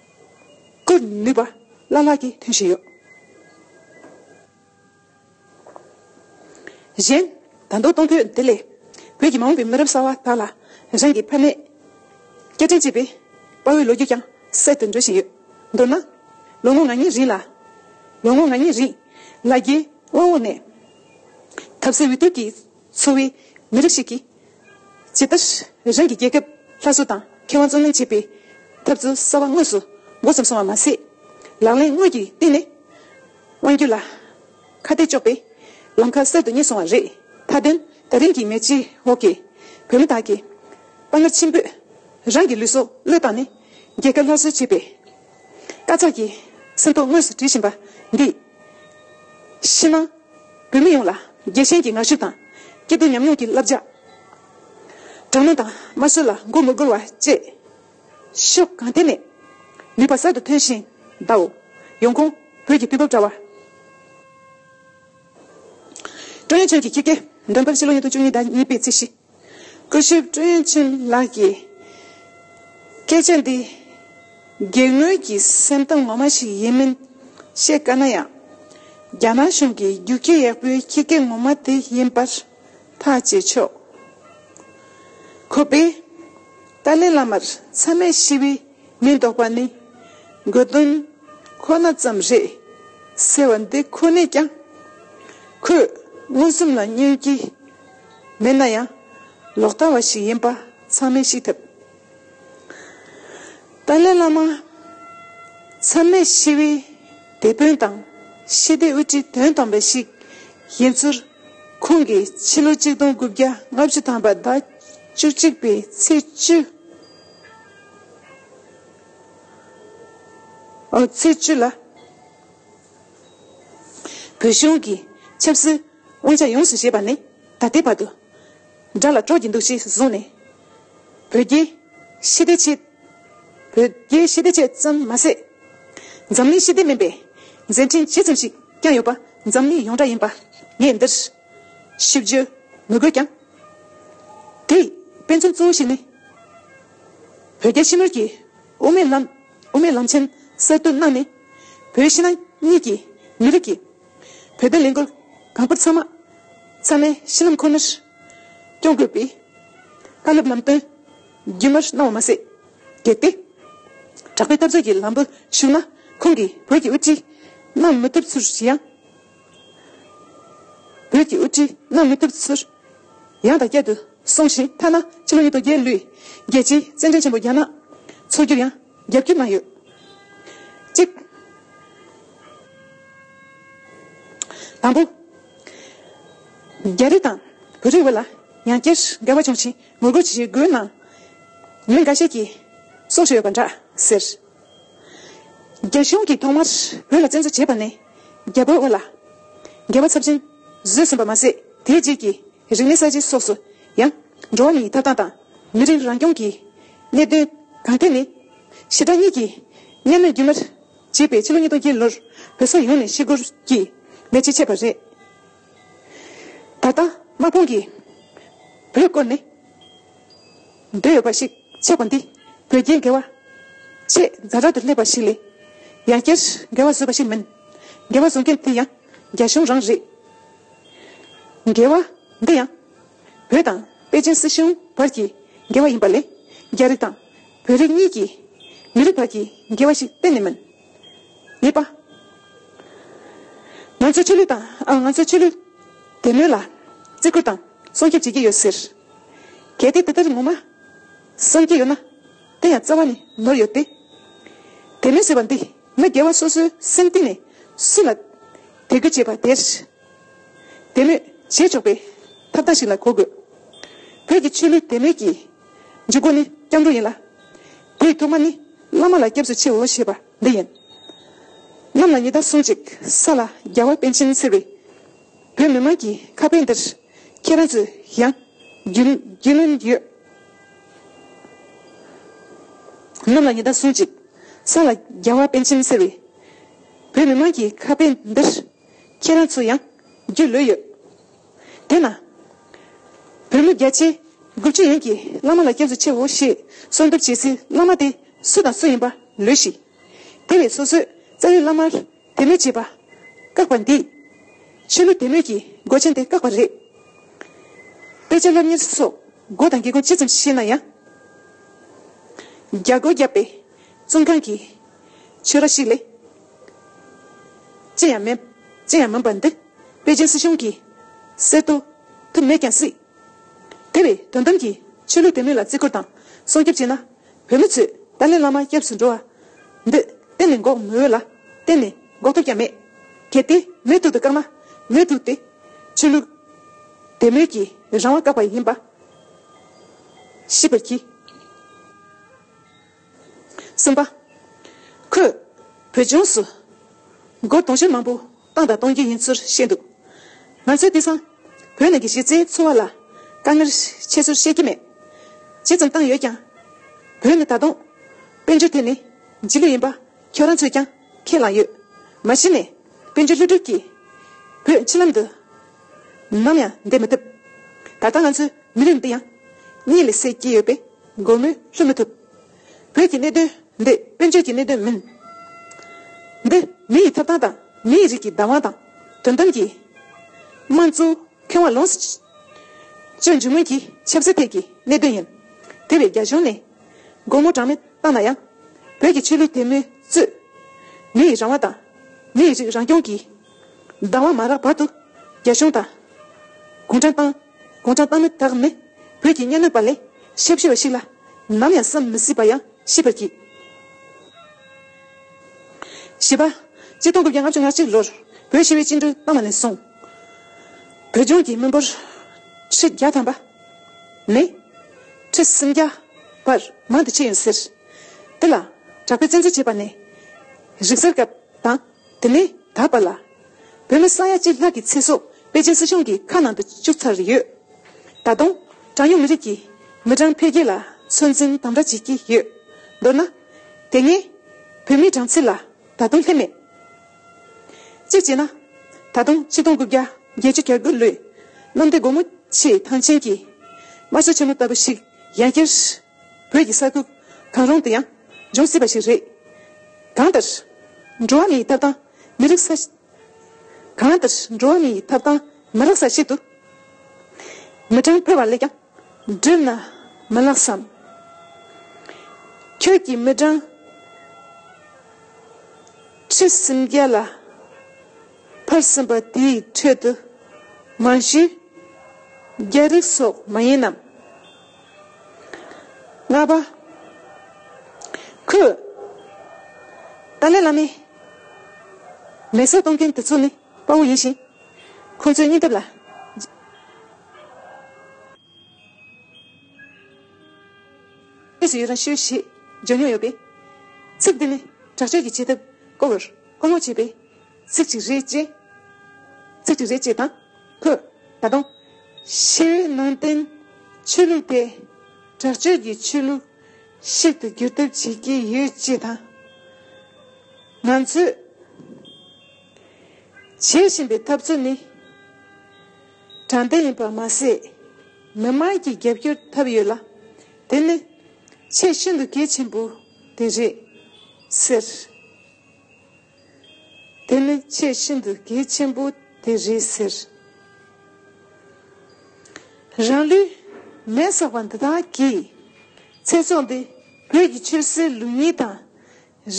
བཀོད་ནུས་པ་བླ་ལྷག་གིས་མཐུན་བཞིན་ཡོད། གཞན་ད་མདོ་སྟོང་བོད་སྡེ་ལས་བོད་ཀྱི་མ་འོངས་པའི་མི་རབས་གསར་བ་དག་ལ་རང་གི་ཕ་མེས་སྐྱ་བྲན་གཅེས་པའི་དཔའ་བོའི་ལོ་རྒྱུས་ཀྱང་གསལ་དུ་འགྲོ་བཞིན་ཡོད། མདོར་ན། ལོ་ངོ་ང་གཉིས་རིང་ལ། ལོ་ངོ་ང་གཉིས་རིང་ལ་རྒྱའི་དབང་འོག་ནས། ཐབས་ཟད་འུད་སྟོད་ཀྱིས། འཚོ་བའི་མི་རིགས་ཤིག་གིས། ཇི་ལྟར་རང་གི་རྒྱལ་ཁབ་སླར་གསོ་དང་ཁེ་དབང་བརྩོན་ལེན་བྱེད་པའི་ཐབས་ཚུལ་གསར་བ་དངོས་སུ་མགོ་བརྩམས་སོང་བ་མ་ཟད། ལག་ལེན་དངོས་ཀྱི་སྟེང་ནས་དབང་སྒྱུར་ལ་ཁ་གཏད་གཅོག་པའི་ལམ་ཁ་གསར་དུ་རྙེད་སོང་བ་རེད། མཐའ་དོན་ད་རིང་གི་མེ་ལྕེའི་འོག་གི་བོད་མི་དག་གིས་དཔའ་ངར་ཆེན་པོས་རང་གི་ལུས་སྲོག་བློས་བཏང་ནས་རྒྱལ་ཁབ་སླར་གསོ་བྱེད་པའི་དཀའ་ཚགས་ཀྱི་ཚེ་ཐོ་དངོས་སུ་བྲིས་བཞིན་པ་འདིས། ཕྱི་ནང་བོད་མི་ཡོངས་ལ་རྒྱལ་ཞེན་གྱི་ངར་ཤུགས་དང། སྐྱིད་སྡུག་མཉམ་མྱོང་གི་བསླབ་བྱ། དྲང་ནུས་དང་དམར་གསོད་ལ་མགོ་མི་སྒུར་བ་བཅས་ཕྱོགས་གང་ཐད་ནས་ནུས་པ་གསར་དུ་ཐོན་བཞིན་གདའོ། ཡོང་ཁུངས་བོད་ཀྱི་དུས་བབ་དྲ་བ། ཀྲོན་ཡོན་ཆོན་གྱི་ཁྱི་སྐད་འདོན་སྤེལ་ཕྱི་ལོ་ཉིས་སྟོང་བཅུ་གཉིས་ཟླ་གཉིས་པའི་ཚེས་བཞི། སྐུ་ཞབས་ཀྲུའུ་ཡན་ཆིན་ལགས་ཀྱིས། སྐད་ཆ་འདི། རྒྱལ་དངོས་ཀྱི་སེམས་གཏམ་ངོ་མ་ཞིག་ཡིན་མིན་བཤད་དཀའ་ན་ཡང། རྒྱ་ནག་གཞུང་གི་རྒྱུགས་ཁྱི་ཡག་པོའི་ཁྱི་སྐད་ངོ་མ་དེ་ཡིན་པར་ཐག་བཅད་ཆོག་གོ། བས། ཏཱ་ལའི་བླ་མར་མཚམས་མེད་ཞི་བའི་མིང་འདོགས་པ་ནི། དགོས་དོན་ཁོ་ན་ཙམ་རེད། ཟེར་བ་འདི་ཁོ་ནས་ཀྱང། ཁོས་མངོན་སུམ་ལ་བསྙོན་གྱི་མེད་ན་ཡང་ལོག་ལྟ་བ་ཞིག་ཡིན་པ་ཚང་མས་ཤེས་ཐུབ། ཏཱ་ལའི་བླ་མ་མཚམས་མེད་ཞི་བའི་དེད་དཔོན་དང་ཞི་བདེའི་དབུ་ཁྲིད་དོན་དམ་པ་ཞིག་ཡིན་ཚུལ་ཁོང་གིས་ཕྱི་ལོ་ཆིག་སྟོང་དགུ་བརྒྱ་ལྔ་བཅུ་ཐམ་པ་ཟླ་བཅུ་གཅིག་པའི་ཚེས་བཅུ་ལ། བོད་གཞུང་གི་ཆབ་སྲིད་དབང་ཆ་ཡོངས་སུ་བཞེས་པ་ནི་ད་ལྟའི་བར་དུ་དགྲ་ལ་དཀྲོག་གི་འདུག་ཅེས་གསུངས་ནས། བོད་རྒྱའི་ཤེས་ལྡན་ཆེད་བོད་རྒྱའི་ཤེས་ལྡན་ཆེད་ཙམ་མ་ཟད། འཛམ་གླིང་ཤེས་ལྡན་མིན་པའི་མཛད་འཕྲིན་ཇི་ཙམ་ཞིག་ཀྱང་ཡོད་པ་འཛམ་གླིང་ཡོངས་གྲགས་ཡིན་པ་ངས་འདིར་ཞིབ་བརྗོད་མི་དགོས་ཀྱང། དེའི་དཔེ་མཚོན་གཙོ་བོ་ཞིག་ནི། བོད་རྒྱ་ཕྱི་ནུར་གྱི་དབུ་མའི་ལམ། དབུ་མའི་ལམ་ཆེན་གསར་གཏོད་གནང་ནས། བོད་ཕྱི་ནང་གཉིས་ཀྱི་མི་རིགས་ཀྱི་བོད་དོན་ལས་འགུལ་གང་པོར་ཚང་མ་ཚང་མའི་གཞི་ལམ་ཁོ་ནར་སྐྱོང་དགོས་པའི་བཀའ་སློབ་ལམ་སྟོན་རྒྱུན་མར་གནང་བ་མ་ཟད། གལ་ཏེ་གྲགས་པའི་འཐབ་རྩོད་ཀྱི་ལམ་བུར་ཞུགས་ན་ཁོང་གིས་བོད་ཀྱི་དབུ་ཁྲིད་གནང་མི་ཐུབ་ཚུལ་ཡང། བོད་ཀྱི་དབུ་ཁྲིད་གནང་མི་ཐུབ་ཚུལ་ཡང་དང་བསྐྱར་དུ་གསུངས་ཤིང་ཐ་ན་ཕྱི་ལོ་ཉིས་སྟོང་བརྒྱད་ལོའི་རྒྱལ་སྤྱིའི་རྩེད་འགྲན་ཆེན་པོ་རྒྱ་ནག་ཚོགས་རྒྱུར་ཡང་རྒྱབ་སྐྱོར་གནང་ཡོད། གཅིག། དང་པོ། རྒྱ་རིགས་དང་བོད་རིགས་དབར་ལ་ཡང་བསྐྱར་འགལ་བ་བྱུང་ཞིང་ངོ་རྒོལ་བྱེད་སྒོའི་ནང་ངོས་འགའ་ཤས་ཀྱིས་སྲོག་ཤོར་ཡོད་པ་འདྲ་ཟེར། རྒྱ་གཞུང་གིས་ཐོག་མར་བོད་ལ་བཙན་འཛུལ་བྱས་པ་ནས། རྒྱལ་པོའི་དབུ་ལ། རྒྱལ་བ་ཚབས་ཆེན་བཟོད་སྲུན་པ་མ་ཟད་དེའི་རྗེས་ཀྱི་རིང་ལས་ས་བྱི་སོགས་སུ་ཡང། འགྲོ་བ་མི་ཡི་ཐབས་དང་དང། མི་རིགས་རང་སྐྱོང་གི་གནད་དོན་གང་ཐད་ནས། ཞི་དྲག་གཉིས་ཀྱི་གཉེན་མོས་རྒྱུན་མར་བྱས་པའི་ཕྱི་ལོ་ཉིས་སྟོང་བརྒྱད་ལོར་བོད་ས་ཡོངས་ནས་ཤི་སྒོར་གྱི་ལས་བྱེད་ཆད་པ་རེད། ད་ལྟ་དམག་དཔུང་གིས་བོད་བསྐོར་ནས། འདོད་ཡོད་པ་ཞིག་ཆགས་པ་འདི་བོད་རྒྱའི་འགལ་བ་ཆེས་རྫ་དྲག་ཏུ་སླེབས་པ་ཞིག་ལས། ཡང་བསྐྱར་འགལ་བ་བཟོས་པ་ཞིག་མིན། འགལ་བ་བཟོ་མཁན་དེ་ཡང་རྒྱ་གཞུང་རང་རེད། འགལ་བ་འདི་ཡང་བོད་དང་པེ་ཅིན་སྲིད་གཞུང་བར་གྱི་འགལ་བ་ཡིན་པ་ལས་རྒྱ་རིགས་དང་བོད་རིགས་གཉིས་ཀྱི་མི་རིགས་བར་གྱི་འགལ་བ་ཞིག་གཏན་ནས་མིན། གཉིས་པ། ང་ཚོའི་ཆོས་ལུགས་དང་ང་ཚོའི་ཆོས་ལུགས་དད་མོས་ལ་བརྩི་བཀུར་དང་སྲུང་སྐྱོབ་བྱེད་ཀྱི་ཡོད་ཟེར། གལ་ཏེ་དེ་ལྟར་ངོ་མ་བསམ་གྱི་ཡོད་ན་དེ་ཡང་རྩ་བ་ནས་ནོར་ཡོད་དེ། དེ་མིན་ཟེར་བ་འདི་མི་དགེ་བ་སོ་སོའི་སེམས་གཏིང་ནས་སུ་ལ་དད་གུས་བྱེད་པ་དེར་དད་མོས་བྱེད་ཆོག་པའི་ཐབས་ལྟ་ཞིག་ལ་གོ་དགོས། བོད་ཀྱི་ཆོས་ལུགས་དད་མོས་ཀྱི་འཇུག་སྒོ་ནི་སྐྱབས་འགྲོ་ཡིན་ལ། དེའི་ཐོག་མ་ནི་བླ་མ་ལ་སྐྱབས་སུ་མཆིའོ་ཞེས་པ་འདི་ཡིན། གནམ་ལ་ཉི་ཟླ་སོང་ཅིག་ས་ལ་རྒྱལ་བ་པཎ་ཆེན་ཟེར་བའི་བོད་མི་དམངས་ཀྱི་ཁ་དཔེ་འདིར། ཁྱེད་རང་ཚོས་ཡང་རྒྱུས་ལོན་གྱི་ཡོད། ནམ་ལ་ཉི་ཟླ་སུན་ཅིག་ས་ལ་རྒྱལ་བ་པན་ཆེན་ཟེར་བའི་བོད་མི་མང་གི་ཁ་དཔེ་འདིར་ཁྱེད་རང་ཚོས་ཡང་རྒྱུས་ལོས་ཡོད། དེས་ན། བོད་མི་བརྒྱ་ཆའི་དགུ་བཅུ་ཡན་གྱིས་བླ་མ་ལ་སྐྱབས་སུ་མཆིའོ་ཞེས་གསོལ་འདེབས་བྱེད་སའི་བླ་མ་དེ་སུ་དང་སུ་ཡིན་པ་ལོས་ཤེས། དེ་བས་སོ་སོས་རྩ་བའི་བླ་མར་དེ་ལས་བྱེད་པ་བཀག་པ་འདིས། ཕྱི་ལོ་དེ་ལོས་ཀྱི་སྒོ་ཆེན་དེ་བཀག་པ་རེད། དཔེ་ཆ་སློབ་གཉེར་སོགས་སྒོ་དང་དགེ་སྒོ་ཅི་ཙམ་ཤེས་ན་ཡང། རྒྱ་སྒོ་བརྒྱབ་པའི་བཙོན་ཁང་གི་ཆོས་ར་ཞིག་ལས། ཅི་ཡང་མེད། ཅི་ཡང་མིན་པ་འདི་པེ་ཅིན་སྲིད་གཞུང་གིས་གསལ་བཏོད་ཐུབ་མེད་ཀྱང་སྲིད། དེ་བས་དོན་དམ་གྱིས་ཕྱི་ལོ་དེ་ལོས་ལ་བརྩི་བཀུར་དང་སྲུང་སྐྱོབ་བྱས་ན་བོད་མི་ཚོས་ཏཱ་ལའི་བླ་མ་སྐྱབས་སུ་འགྲོ་བ། འདི། གཏན་ནས་འགོག་མི་འོས་ལ། གཏན་ནས། འགོག་ཐབས་ཀྱང་མེད། གལ་ཏེ། མེད་ཐུག་ཏུ་བཀག་ན། མེད་ཐུག་སྟེ། ཆོས་ལུགས། དད་མོས་ཀྱི། རང་དབང་བཀག་པ་ཡིན་པ། ཤེས་པར་གྱིས། གསུམ་པ། ཁོས། བོད་ལྗོངས་སུ། སྒོར་དུང་ཕྱུར་མང་པོ། བཏང་དང་གཏོང་རྒྱུ་ཡིན་ཚུལ་བཤད་འདུག་ང་ཚོའི་དེང་སང་བོད་ནང་གི་གཞི་རྩའི་འཚོ་བ་ལ་དཀའ་ངལ་ཆེ་ཚུལ་བཤད་ཀྱི་མེད། ཇི་ཙམ་བཏང་ཡོད་ཀྱང་བོད་ནས་ད་དུང་དཔལ་འབྱོར་ཐད་ནས་རྗེས་ལུས་ཡིན་པ་ཁྱོད་རང་ཚོས་ཀྱང་ཁས་བླངས་ཡོད། མ་གཞི་ནས་དཔལ་འབྱོར་ལྷུག་གྲུབ་ཀྱིས་བོད་ཕྱི་ལམ་དུ་ནམ་ཡང་འདེད་མི་ཐུབ། ད་ལྟ་ང་ཚོའི་མི་རིགས་འདི་ཡང་གཉིད་ལས་སད་ཀྱི་ཡོད་པས་སྒོར་མོས་ལྷོད་མི་ཐུབ། བོད་ཀྱི་གནད་དོན་འདི་དཔོན་ཆོས་ཀྱི་གནད་དོན་མིན། འདི་མི་ཡི་ཐོབ་ཐང་དང་མི་ཡི་རིགས་ཀྱི་བདག་དབང་དང་དོན་དམ་གྱི་དམངས་གཙོའི་ཁེ་དབང་ལོངས་སུ་སྤྱོད་རྒྱུ་སྔོན་གྱི་ཆབ་སྲིད་ཐད་ཀྱི་གནད་དོན་ཡིན། དེ་བས་རྒྱ་གཞུང་ནས་སྒོ་མོ་གྲངས་མེད་བཏང་ན་ཡང་བོད་ཀྱི་ཆོས་ལུགས་དད་མོས་གཙོས་མི་ཡི་རང་དབང་དང་མི་ཡི་རིགས་རང་སྐྱོང་གི་བདག་དབང་མ་རག་བར་དུ་རྒྱ་གཞུང་དང་གུང་ཁྲན་ཏང། དགོངས་དྲང་བཏང་མི་དག་ནི། བོད་ཀྱི་གཉའ་གནོན་པ་ལས་ཤེས་བཞེད་བ་ཞིག་ལ། ནམ་ཡང་བསམ་མི་སྲིད་པ་ཡང་ཤེས་པར་གྱིས། ཞེས་པ། སྤྱི་སྟོང་དགུ་བརྒྱ་ལྔ་བཅུ་ང་གཅིག་ལོར་བོད་ཕྱི་བའི་སྤྱི་འགྲོས་བཏང་བ་ནས་བཟུང། བོད་ལྗོངས་ཀྱི་མི་འབོར་ཁྲི་བརྒྱ་ཐམ་པ་ནས། ཁྲི་སུམ་བརྒྱ་བར་མང་དུ་ཕྱིན་ཡོད་ཟེར། དེ་ལ་གྲགས་པའི་བཙན་འཛུལ་བྱས་པ་ནི། རིག་གསར་སྐབས་དང། དེ་ལས་ད་བར་ལ། བོད་མི་ས་ཡ་གཅིག་ལྷག་གི་ཚེ་སྲོག་པེ་ཅིན་སྲིད་གཞུང་གི་ཁ་ནང་དུ་བཅུག་ཚར་ཡོད། ད་དུང། གྲངས་ཉུང་མི་རིགས་ཀྱི་མི་གྲངས་འཕེལ་རྒྱས་ལ་ཚོད་འཛིན་དམ་དྲག་བྱེད་ཀྱི་ཡོད། མདོར་ན། དེ་སྔའི། བོད་མིའི་གྲངས་ཚད་ལ་ད་དུང་སླེབས་མེད། གཅིག་བྱས་ན། ད་དུང་ཆིག་སྟོང་དགུ་བརྒྱ་བརྒྱད་ཅུ་གྱ་དགུ་ལོའི་གནམ་བདེ་སྒོ་མོ་ཆེའི་ཐང་ཆེན་གྱི་དམར་གསོད་ཆེན་མོ་ལྟ་བུ་ཞིག་ཡང་སྐྱེར། བོད་ཀྱི་ས་ཁུལ་གང་རུང་དུ་ཡང་འབྱུང་སྲིད་པ་ཞིག་རེད། གང་ལྟར། འགྲོ་བ་མི་ཡི་ཐབ་དང་མི་རིག་ས། གང་ལྟར་འགྲོ་བ་མི་ཡི་ཐབ་དང་མི་རག་ས་ཞིག་ཏུ། མི་གྲངས་འཕེལ་བ་ལས་ཀྱང་བསྒྲུབ་ན་མི་ལགས་སམ། ཁྱོད་ཀྱིས་མི་གྲངས་ཁྲི་སུམ་བརྒྱ་ལ་འཕར་ཟིན་པ་དེའི་ཁྲོད་དུ་མང་ཤོས་རྒྱ་རིགས་སོགས་མ་ཡིན་ནམ། ལྔ་པ། ཁོས། ཏཱ་ལའི་བླ་མའི། ལས་བསོད་གཏོང་མཁན་དེ་ཚོ་ནི་དཔའ་བོ་ཡིན་ཞིང། ཁོ་ཚོའི་སྙིང་སྟོབས་ལ། རྗེས་སུ་ཡི་རང་ཞུ་ཞེས་བརྗོད་མྱོང་ཡོད་པས། ཚིག་འདི་ནི་དྲག་སྤྱོད་ཀྱི་བྱེད་ཐབས་སྐོར་བར་བསྔོ་བྱེད་པའི་ཚིག་ཅིག་རེད། ཅེས་དང། ཁོས་ད་དུང། ཞི་བའི་ནང་བསྟན་ཆོས་ལུགས་དེ་དྲག་སྤྱོད་ཀྱི་ཆོས་ལུགས་ཤིག་ཏུ་འགྱུར་ཐབས་བྱེད་ཀྱི་ཡོད་ཅེས་དང། ང་ཚོས་བྱེད་བཞིན་པའི་ཐབས་ཚུལ་ནི་དྲང་བདེན་ཡིན་པ་མ་ཟད། མི་མང་གི་རྒྱབ་སྐྱོར་ཐོབ་ཡོད་ལ། དེ་ནི་ཆེས་ཤིན་ཏུ་གལ་ཆེན་པོ་དེ་རེད། ཟེར། དེ་ནི་ཆེས་ཤིན་ཏུ་གལ་ཆེན་པོ་དེ་རེད་ཟེར། རང་ལུས་མེར་བསྲེགས་པ་འདི་དག་གིས་ཚེ་སྲོག་འདི་བོད་ཀྱི་ཆོས་སྲིད་ལུགས་གཉིས་དང་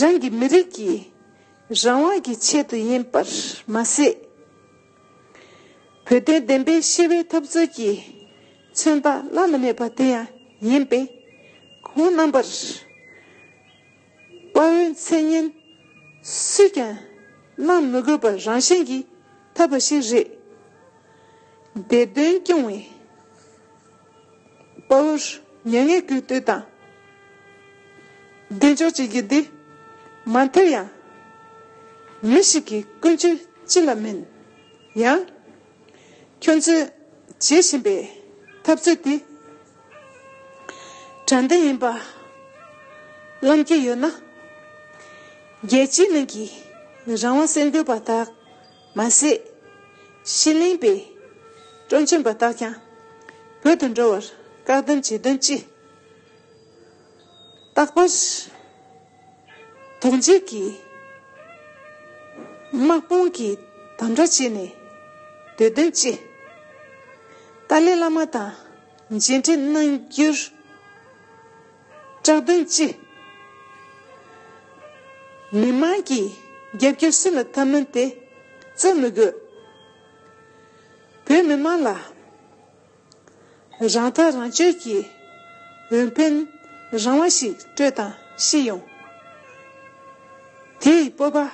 རང་གི་མི་རིགས་ཀྱི་རང་དབང་གི་ཆེད་དུ་ཡིན་པར་མ་ཟད། བོད་དོན་བདེན་པའི་ཤེས་པའི་འཐབ་རྩོད་ཀྱི་མཚོན་རྟགས་བླ་ན་མེད་པ་དེ་ཡང་ཡིན་པས་ཁོང་རྣམ་པར་དཔའ་བོའི་མཚན་སྙན། སུས་ཀྱང་བླངས་མི་དགོས་པར་རང་བཞིན་གྱིས་ཐོབ་པ་ཞིག་རེད། འདས་དོན་སྐྱོང་བའི་དཔའ་བོར་མྱ་ངན་གུས་བཏུད་དང་གདེང་འཇོག་བྱེད་རྒྱུ་དེ་མ་མཐར་ཡང་མི་ཞིག་གི་ཀུན་སྤྱོད་ཅི་ལ་མིན་ཡང། ཁྱོད་ཚོས་བྱེད་བཞིན་པའི་འཐབ་རྩོད་དེ་དྲང་བདེན་ཡིན་པ་བླངས་ཀྱི་ཡོད་ན། རྒྱལ་སྤྱིའི་ནང་གི་རང་དབང་སེལ་འདོད་པ་དག་མ་ཟད། ཕྱི་གླིང་པའི་དཀྲོག་མཆན་པ་དག་ཀྱང་བོད་དུ་འགྲོ་བར་བཀག་སྡོམ་བྱེད་དོན་ཅི། རྟག་པར། རྡོ་འཇིགས་ཀྱིས་དམག་དཔུང་གི་དམ་དྲག་བྱས་ནས་འདོད་དོན་ཅི། ཏཱ་ལའི་བླ་མ་དང་མཇལ་འཕྲད་གནང་རྒྱུར་སྐྲག་དོན་ཅི། མི་དམངས་ཀྱི་རྒྱབ་སྐྱོར་སུ་ལ་ཐབས་མིན་དེ་རྩོད་མི་དགོས། བོད་མི་དམངས་ལ། རང་ཐག་རང་གཅོད་ཀྱིས་འོས་འཕེན་རང་དབང་ཞིག་སྤྲོད་དང་ཤེས་ཡོང། དེ་ཡི་སྤོབས་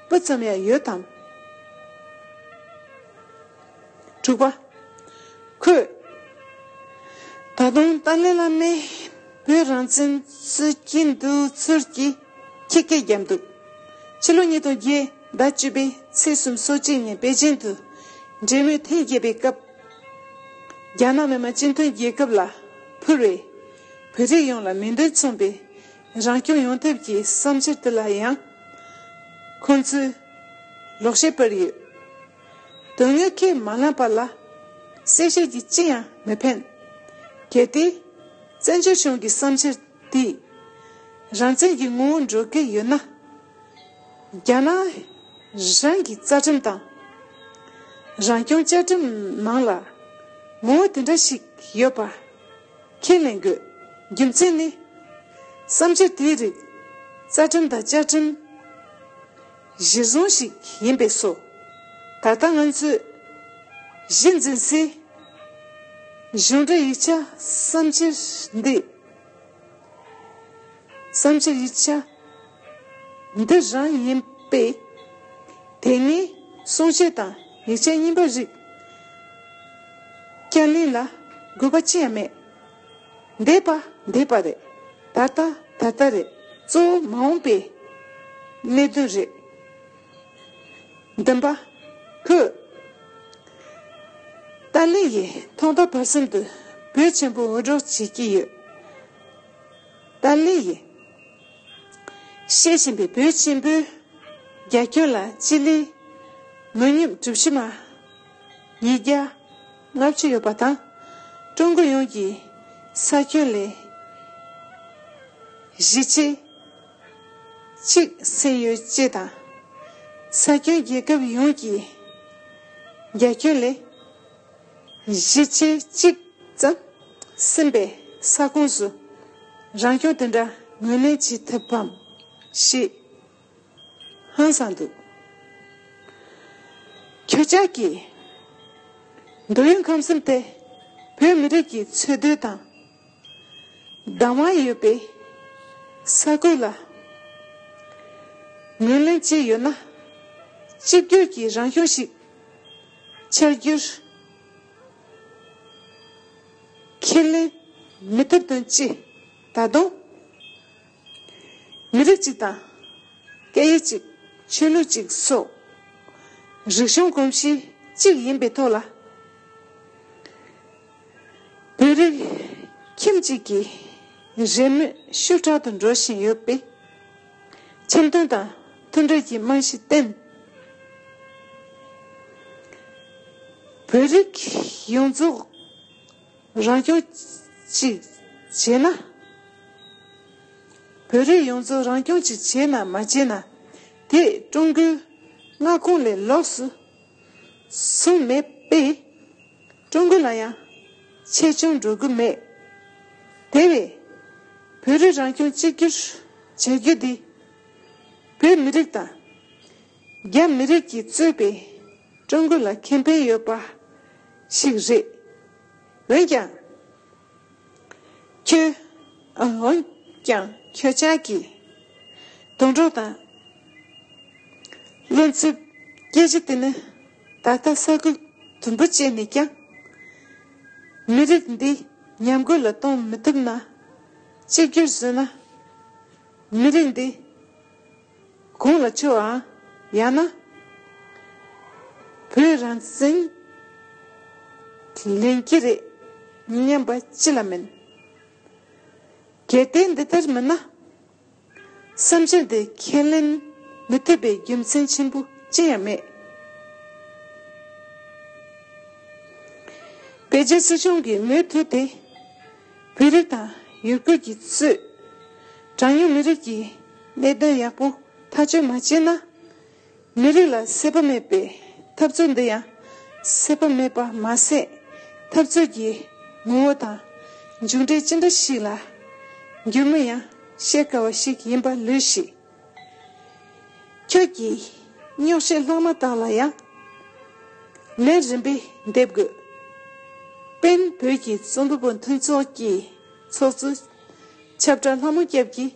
པ་སྤུ་ཙམ་ཡང་ཡོད་དམ། དྲུག་པ། ཁོས་ད་དུང་ཏཱ་ལའི་བླ་མས་བོད་རང་བཙན་རྩོད་ཀྱི་འདུག་ཚུལ་གྱི་ཁྱི་སྐད་བརྒྱབ་འདུག་ཕྱི་ལོ་ཉིས་སྟོང་བརྒྱད་ཟླ་བཅུ་པའི་ཚེས་གསུམ་སོ་གཅིག་ཉིན་པེ་ཅིང་དུ་འབྲེལ་མོལ་ཐེངས་བརྒྱད་པའི་སྐབས། རྒྱ་ནག་མི་དམངས་སྤྱི་མཐུན་རྒྱལ་ཁབ་ལ་ཕུལ་བའི། བོད་རིགས་ཡོངས་ལ་མིང་དོན་མཚུངས་པའི། རང་སྐྱོང་ཡོང་ཐབས་ཀྱི་བསམ་འཆར་དེ་ལ་ཡང། ཁོང་ཚོས་ལོག་བཤད་སྤེལ་ཡོད། དོན་དངོས་ཁས་མ་བླངས་པ་ལ། གསལ་བཤད་ཀྱིས་ཅི་ཡང་མི་ཕན། གལ་ཏེ། བཙན་བྱོལ་གཞུང་གི་བསམ་འཆར་དེས། རང་བཙན་གྱི་ངོ་བོ་འགྲོ་གི་ཡོད་ན། རྒྱ་ནག་རང་གི་རྩ་ཁྲིམས་དང། རང་སྐྱོང་བཅའ་ཁྲིམས་ནང་ལ་ངོ་བོ་དེ་འདྲ་ཞིག་ཡོད་པ་ཁས་ལེན་དགོས། རྒྱུ་མཚན་ནི། བསམ་འཆར་དེའི་རིགས་རྩ་ཁྲིམས་དང་བཅའ་ཁྲིམས་གཞིར་བཟུང་ཞིག་ཡིན་པས་སོ། ད་ལྟ་ང་ཚོས་གཞི་འཛིན་སའི་གཞུང་འབྲེལ་ཡིག་ཆ་བསམ་འཆར་འདི། བསམ་འཆར་ཡིག་ཆ། འདི་རང་ཡིན་པས། དེ་ནས་གསུང་བཤད་དང་ཡིག་ཆའི་སྙིང་པོ་རིགས། བསྐྱར་ལེན་ལ་དགོས་པ་ཅི་ཡང་མེད། འདས་པ་འདས་པ་རེད། ད་ལྟ་ད་ལྟ་རེད་གཙོ་བོ་མ་འོངས་པའི་གནད་དོན་རེད། འདུན་པ་ཕུད། ཏཱ་ལའི་ཡིས་ཐོག་མཐའ་བར་གསུམ་དུ་བོད་ཆེན་པོ་འུད་སྒྲོག་བྱེད་ཀྱི་ཡོད། ཏཱ་ལའི་ཡིས། བཤད་བཞིན་པའི་བོད་ཆེན་པོའི། རྒྱ་ཁྱོན་ལ་སྤྱི་ལེ། ངོས་སྙོམས་གྲུ་བཞི་མ། ཉིས་བརྒྱ། ལྔ་བཅུ་ཡོད་པ་དང། ཀྲུང་གོ་ཡོངས་ཀྱི། ས་ཁྱོན་ལས། བཞི་ཆའི། གཅིག་སེལ་ཡོད་ཅེས་དང། ས་ཁྱོན་རྒྱལ་ཁབ་ཡོངས་ཀྱི། རྒྱ་ཁྱོན་ལས། གཞི་བྱེས་གཅིག་ཙམ་ཟིན་པའི་ས་ཁོངས་སུ་རང་སྐྱོང་དེ་འདྲ་ངོས་ལེན་བྱེད་ཐུབ་བམ་ཞེས་ཧང་སང་འདུག་ཁྱེད་ཅག་གིས་འདོད་ཡོན་ཁམས་གསུམ་དེ་བོད་མི་རིགས་ཀྱི་འཚོལ་སྡོད་དང། སྡང་བ་ཡོད་པའི་ས་ཁུལ་ལ་ངོས་ལེན་བྱས་ཡོད་ན་གཅིག་གྱུར་གྱི་རང་གཞུང་ཞིག་འཆར་རྒྱུར་ཁས་ལེན་མི་ཐུབ་དོན་ཅི། ད་དུང་མི་རིགས་གཅིག་དང་སྐད་ཡིག་གཅིག་ཆོས་ལུགས་གཅིག་སོགས་རིག་གཞུང་གོམས་གཤིས་གཅིག་ཡིན་པའི་ཐོག་ལ། བོད་རིགས་ཁྱིམ་གཅིག་གི་རེས་མོས་ཤུགས་དྲག་ཏུ་འགྲོ་བཞིན་ཡོད་པས། འཆམ་མཐུན་དང་མཐུན་སྒྲིལ་གྱི་རྨང་གཞི་བརྟན། བོད་རིགས་ཡོངས་རྫོགས་རང་སྐྱོང་གཅིག་བྱས་ན། བོད་རིགས་ཡོངས་རྫོགས་རང་སྐྱོང་གཅིག་བྱས་ན་མ་བྱས་ན་དེས་ཀྲུང་གོའི་མངའ་ཁོངས་ལས་ལོགས་སུ་སོང་མེད་པས། ཀྲུང་གོ་ལ་ཡང་ཆེ་ཆུང་འགྲོ་གི་མེད། དེ་བས། བོད་རིགས་རང་སྐྱོང་གཅིག་གྱུར་བྱེད་རྒྱུ་འདི། བོད་མི་རིགས་དང། རྒྱ་མི་རིགས་ཀྱིས་གཙོས་པའི་ཀྲུང་གོ་ལ་ཁེ་ཕན་ཡོད་པ་ཞིག་རེད། འོན་ཀྱང། ཁྱོད། འོན་ཀྱང་ཁྱོད་ཅག་གིས། དུད་འགྲོ་དང། གློ་མཚོའི་སྐྱེ་འཆི་དེ་ནི། ད་ལྟ་ས་ཁུལ་དུམ་བུ་བཅད་ནས་ཀྱང། མི་རིགས་འདི་ཉམས་རྒུད་ལ་གཏོང་མི་ཐུབ་ན། གཅིག་གྱུར་བཟོས་ན། མི་རིགས་འདི། གོང་ལ་ཆུ་འང། ཡང་ན། བོད་རང་བཙན། ལེན་གྱི་རེད། སྙམ་པ་ཅི་ལ་མིན། གལ་ཏེ་འདི་ལྟར་མིན་ན། བསམ་བཞིན་དེ་ཁས་ལེན་མི་ཐུབ་པའི་རྒྱུ་མཚན་ཆེན་པོ་ཅི་ཡང་མེད། བོད་རྒྱ་སྲིད་གཞུང་གིས་མུ་མཐུད་དེ། བོད་རིགས་དང་ཡུ་གུར་གྱི་གཙོས། གྲངས་ཉུང་མི་རིགས་ཀྱི། ལས་གཏོད་ཡག་པོ་ཐག་གཅོད་མ་བྱས་ན། མི་རིགས་ལ་སྲིད་པ་མེད་པའི་འཐབ་རྩོད་འདི་ཡང་སྲིད་པ་མེད་པ་མ་ཟད་འཐབ་རྩོད་ཀྱི་ངོ་བོ་དང་མཇུག་འབྲས་ཅི་འདྲ་ཞིག་ལ་འགྱུར་མིན་ཡང་བཤད་དཀའ་བ་ཞིག་ཡིན་པ་ལོས་ཤེས། ཁྱོད་ཀྱིས་རྙོག་བཤད་ལྷག་མ་དག་ལ་ཡང་ལན་རིམ་པས་འདེབས་དགོས། དཔོན་བོད་ཀྱི་རྩོམ་པ་པོ་མཐུན་ཚོགས་ཀྱི་ཚོགས་གཙོ་ཆབ་བྲག་ལྷ་མོ་སྐྱབས་ཀྱིས།